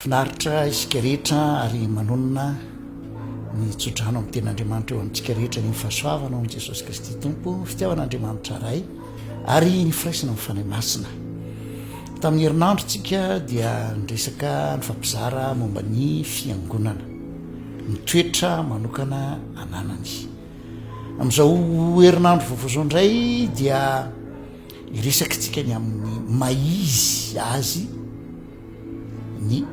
Finaritra isika rehetra ary manonona ny tsodrano amin'ny tenin'Andriamanitra eo amintsika rehetra ny fahasoavana ao amin'i Jesosy Kristy Tompo, ny fitiavan'Andriamanitra Ray ary ny firaisana amin'ny Fanahy Masina. Tamin'ny herinandro tsika dia niresaka nifampizara momba ny fiangonana, ny toetra manokana ananany. Amin'izao herinandro vaovao izao indray dia hiresaka tsika ny amin'ny mahizy azy ny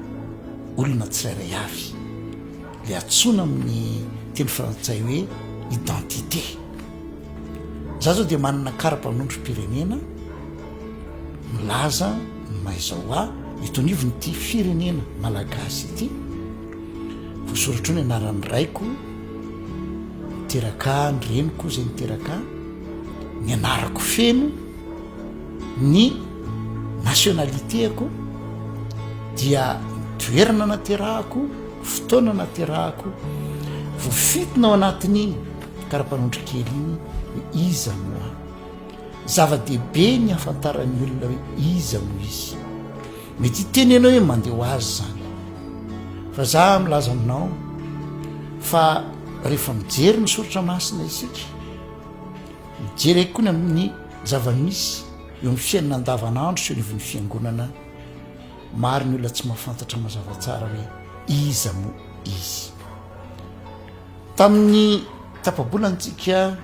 olona tsirairay avy, dia antsoina amin'ny teny frantsay hoe identité. Izaho izao dia manana kara-panondrom-pirenena milaza ny maha izaho ahy, eto anivon'ity firenena malagasy ity, voasoratra eo ny anaran'ny raiko niteraka ahy, ny reniko izay niteraka ahy, ny anarako feno. Ny nationalité-ko dia toerana naterahako, fotoana naterahako, voafitona ao anatin'iny karapanondro kely iny hoe iza no aho. Zava-dehibe ny hahafantaran'ny olona hoe iza no izy. Mety hiteny ianao hoe mandeha ho azy zany fa za milaza aminao fa rehefa mijery ny soratra masina isika, Jereko koa ny amin'ny zava-misy eo amin'ny fiainana andavanandro sy eo anivon'ny fiangonana. Maro ny olona tsy mahafantatra mazava tsara hoe iza moa izy. Tamin'ny tapabolantsika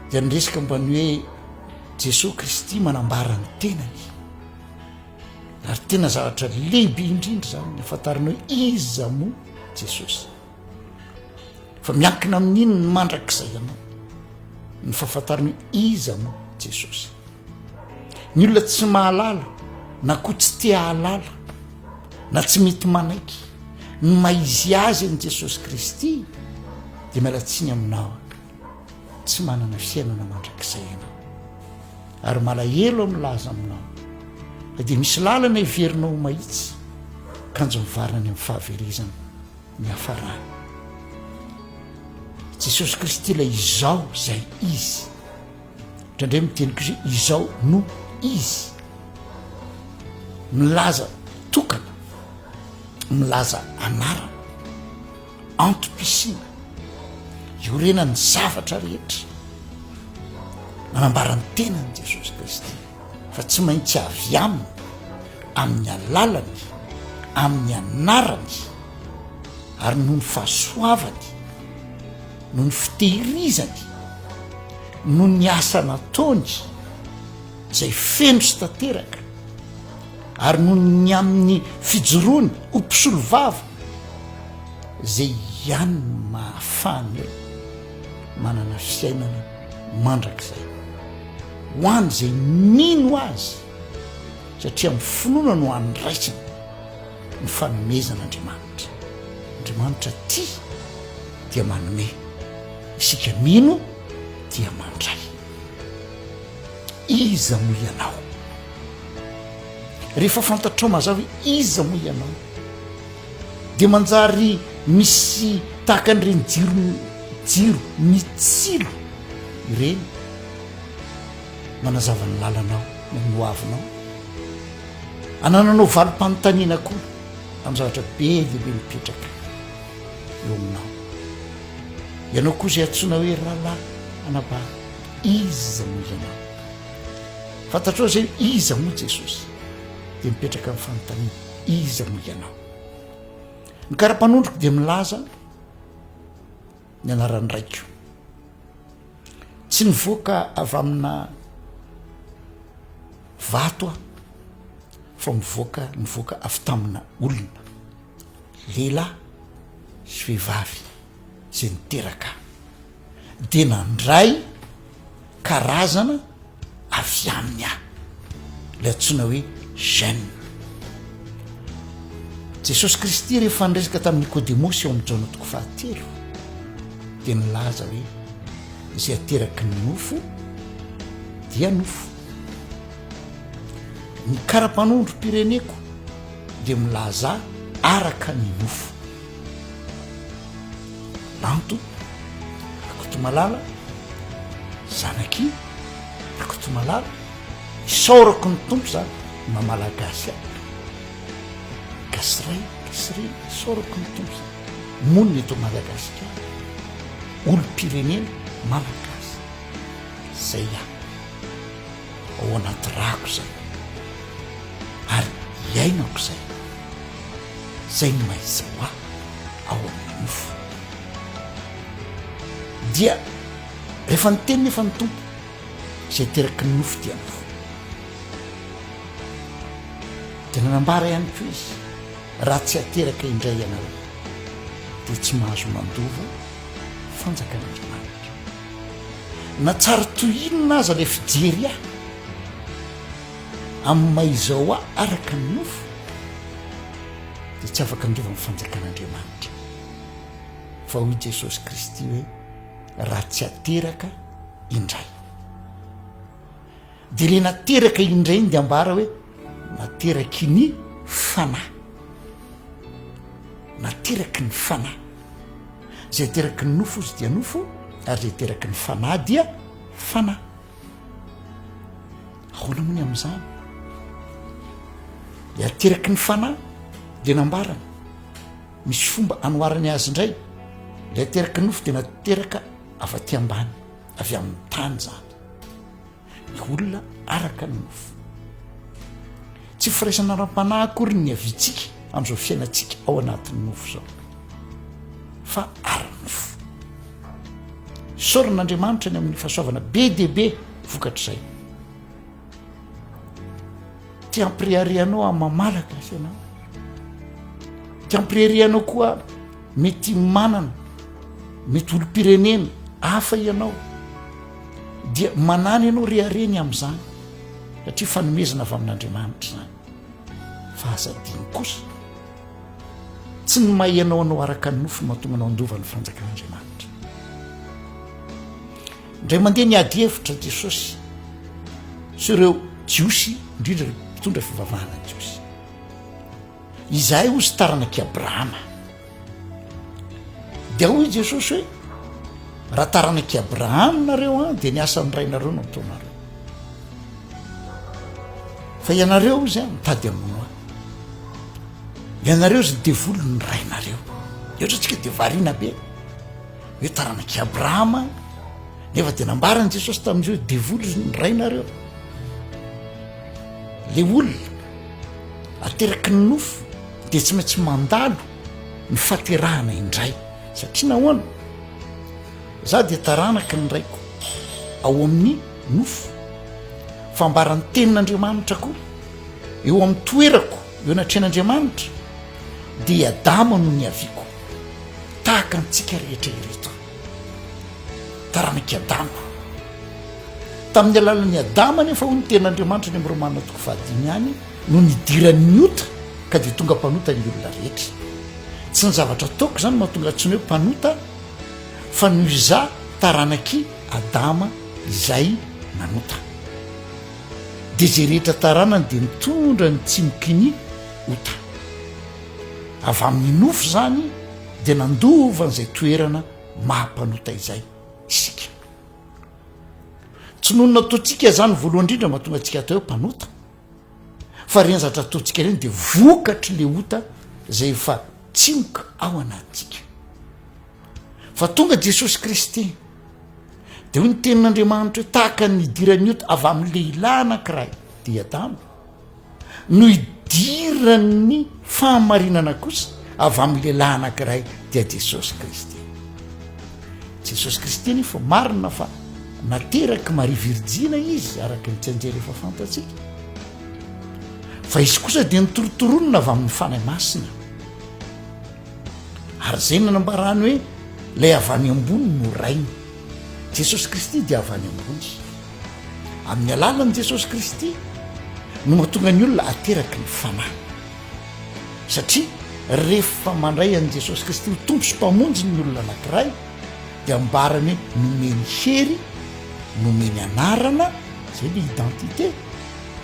dia niresaka mba ny hoe Jesoa Kristy manambara ny tenany. Ary tena zavatra lehibe indrindra izany ny hafantarana hoe iza moa Jesosy. Fa miankina amin'inony mandrakizay ianao ny fahafantarana iza no Jesosy. Ny olona tsy mahalala na koa tsy te hahalala na tsy mety manaiky ny maizy azy an'i Jesosy Kristy dia miala tsiny aminao tsy manana fiainana mandrakizay ianao ary malahelo amin'ny laza aminao fa dia misy lalana heverinao ho mahitsy kanjo mivarina any amin'ny fahaverezana niafarany. Jesosy Kristy ilay izao izay Izy. Indraindray miteny koa izay izao no Izy. Milaza tokana, milaza anarana, antom-pisiana, iorenan'ny zavatra rehetra. Manambara ny tenany Jesosy Kristy. fa tsy maintsy avy aminy amin'ny alalany amin'ny anarany ary noho ny fahasoavany noho ny fitehirizany noho ny asa nataony izay feno sy tanteraka ary noho ny amin'ny fijoroany ho mpisolo vava izay ihany no mahafahana eo Manana fiainana mandrakizay ho an'izay mino azy satria amin'ny finoana no andraisana ny fanomezan'Andriamanitra. Andriamanitra tia dia manome, isika mino dia mandray. Iza moa ianao? Rehefa fantatrao mazava hoe iza moa ianao, Dia manjary misy tahaka an'ireny jiro jiro mitsilo ireny manazava ny lalanao na ny hoavinao. Anananao valim-panontaniana koa amin'ny zavatra be dia be mipetraka eo aminao. Ianao koa izay antsoina hoe rahalahy anabavy, iza moa ianao? Fantatrao izay iza moa Jesosy? Dia mipetraka amin'ny fanontaniana. Iza no ianao? Ny karapanondroko dia milaza ny anaran'ny raiko. Tsy nivoaka avy amina vato aho fa mivoaka nivoaka avy tamina olona, lehilahy sy vehivavy. izay niteraka ahy dia nandray karazana avy aminy aho, ilay antsoina hoe gène. Jesosy Kristy rehefa niresaka tamin'i Nikodemosy ao amin'ny Jaona toko fahatelo dia nilaza hoe izay ateraky ny nofo dia nofo. Ny kara-panondrom-pireneko dia milaza araka ny nofo. Lanto Rakotomalala, zanak'i Rakotomalala, isaorako ny Tompo za mamalagasy a, gasiray gasiray isaorako ny Tompo za monina eto Madagasikara, olom-pirenena malagasy zay a, ao anaty rako zay ary iainako zay. izay no ahaizao ahy ao amin'ny nofo. Dia rehefa niteny nefa ny Tompo, izay teraky ny nofo dia ny fo. Dia nanambara ihany koa izy, raha tsy ateraka indray ianareo, dia tsy mahazo mandova fanjakan'Andriamanitra. Na tsary toy inona aza ilay fijery ahy, amin'ny maha izy ao ahy araka ny nofo, dia tsy afaka handova ny fanjakan'Andriamanitra. Fa hoy Jesosy Kristy hoe, Raha tsy ateraka indray. Dia ilay nateraka indray iny dia ambara hoe, nateraky ny fanahy. Nateraky ny fanahy. Izay ateraky ny nofo izy dia nofo, ary izay ateraky ny fanahy dia fanahy. Ahoana moa ny amin'izany? Dia ateraky ny fanahy dia nambarany. Misy fomba anoharany azy indray. Ilay ateraky ny nofo dia nateraka avy aty ambany, avy amin'ny tany izany. Ny olona araka ny nofo. Tsy firaisana ara-panahy akory ny hiaviantsika amin'izao fiainantsika ao anatin'ny nofo izao, fa ara-nofo. Isaoran'Andriamanitra ny amin'ny fahasoavana be dia be vokatr'izay. Te hampireharianao amin'ny maha-malagasy ianao. Te hampireharianao koa mety manana, mety olom-pirenena hafa ianao, dia manana ianao rehareny amin'izany. satria fanomezana avy amin'Andriamanitra izany fa aza adino kosa tsy ny maha ianao anao araka ny nofo no mahatonga anao handova ny fanjakan'Andriamanitra indray mandeha ny ady hevitra Jesosy sy ireo Jiosy indrindra ireo mpitondra fivavahana Jiosy Izahay hozy taranak'i Abrahama. Dia hoy i Jesosy hoe, Raha taranak'i Abrahama nareo an, dia ny asan'ny rainareo no ataonareo. Fa ianareo hozy an, mitady amono ahy. Ianareo hozy ny devolon'ny rainareo. Eotratsika dia variana be. Hoe taranak'i Abrahama. Nefa dia nambaran'i Jesosy tamin'izy hoe devoly ny rainareo. Le olona ateraky ny nofo dia tsy maintsy mandalo ny faterahana indray satria nahoana? Za dia taranaky ny raiko ao amin'ny nofo. Fambaran'ny tenin'Andriamanitra koa eo amin'ny toerako eo anatrehan'Andriamanitra dia Adama no niaviako tahaka antsika rehetra ireto. taranak'i Adama. Tamin'ny alalan'i Adama anefa hoy ny tenin'Andriamanitra any amin'ny Romana toko fahadimy ihany no nidiran'ny ota ka dia tonga mpanota ny olona rehetra. Tsy ny zavatra ataoko izany mahatonga tsy ny hoe mpanota fa noho izaho taranak'i Adama izay nanota. Dia izay rehetra taranany dia mitondra ny tsimokin'ny ota. Avy amin'ny nofo izany dia nandova an'izay toerana maha-mpanota izay isika. Tsy noho ny nataontsika izany voalohany indrindra mba tonga antsika atao hoe mpanota, fa ireny zavatra ataontsika ireny dia vokatry le ota izay efa tsimoka ao anatintsika. Fa tonga Jesosy Kristy, dia hoy ny tenin'Andriamanitra hoe tahaka ny idiran'ny ota avy amin'ny lehilahy anankiray, dia i Adama, no idiran'ny fahamarinana kosa avy amin'ny lehilahy anankiray dia Jesosy Kristy. Jesosy Kristy anefa marina fa naterak'i Maria Virjina izy araka ny tsy anjely efa fantatsika. Fa izy kosa dia nitorotoronina avy amin'ny Fanahy Masina. Ary izay nanambarany hoe ilay avy any ambony no rainy. Jesosy Kristy dia avy any ambony. Amin'ny alalan'i Jesosy Kristy no mahatonga ny olona ateraky ny fanahy. Satria rehefa mandray an'i Jesosy Kristy ho Tompo sy Mpamonjy ny olona anankiray dia ambarany hoe nomeny hery, nomeny anarana, zay le identité,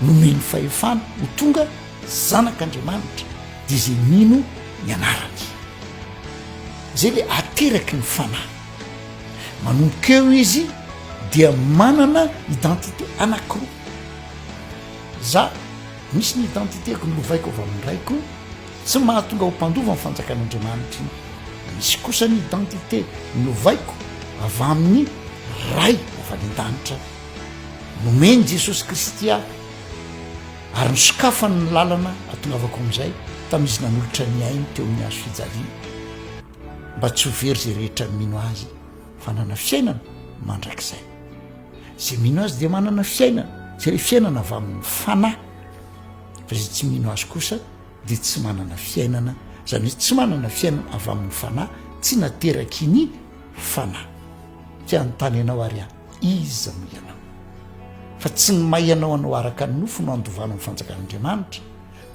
nomeny fahefana ho tonga zanak'Andriamanitra dia izay mino ny anarany. Zay le ateraky ny fanahy. Manomboka eo izy dia manana identité anankiroa. Za misy ny identité-ko nolovaiko avy amin'ny raiko, tsy mahatonga ho mpandova ny fanjakan'Andriamanitra iny. Misy kosa ny identité nolovaiko avy amin'ny Ray avy any an-danitra nomen'i Jesosy Kristy ahy ary nosokafany ny lalana atongavako amin'izay tamin'izy nanolotra ny ainy teo amin'ny hazo fijaliana. mba tsy ho very izay rehetra mino Azy fa hanana fiainana mandrakizay. Izay mino Azy dia manana fiainana, izay hoe fiainana avy amin'ny fanahy. Fa izay tsy mino Azy kosa dia tsy manana fiainana, izany hoe tsy manana fiainana avy amin'ny fanahy, tsy nateraky ny fanahy. Tsy hanontany ianao ary aho, iza no ianao? Fa tsy ny maha ianao anao araka ny nofo no handovana ny fanjakan'Andriamanitra,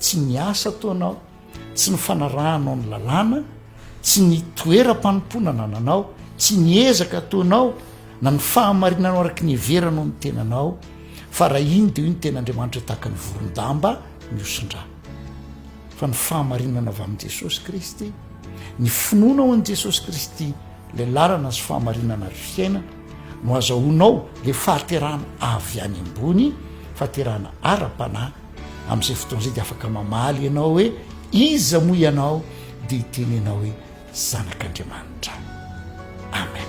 tsy ny asa ataonao, tsy ny fanarahanao ny lalàna, tsy ny toeram-panompoana anananao, tsy ny ezaka ataonao, na ny fahamarinanao araka ny heveranao ny tenanao, fa raha iny dia io ny tena Andriamanitra tahaka ny voron-damba mihosin-drà. Fa ny fahamarinana avy amin'i Jesosy Kristy, ny finoana ao an'i Jesosy Kristy, ilay lalana sy fahamarinana ary fiainana, no azahoanao ilay fahaterahana avy any ambony, fahaterahana ara-panahy Amin'izay fotoana izay dia afaka mamaly ianao hoe iza moa ianao dia hiteny ianao hoe zanak'Andriamanitra. Amen.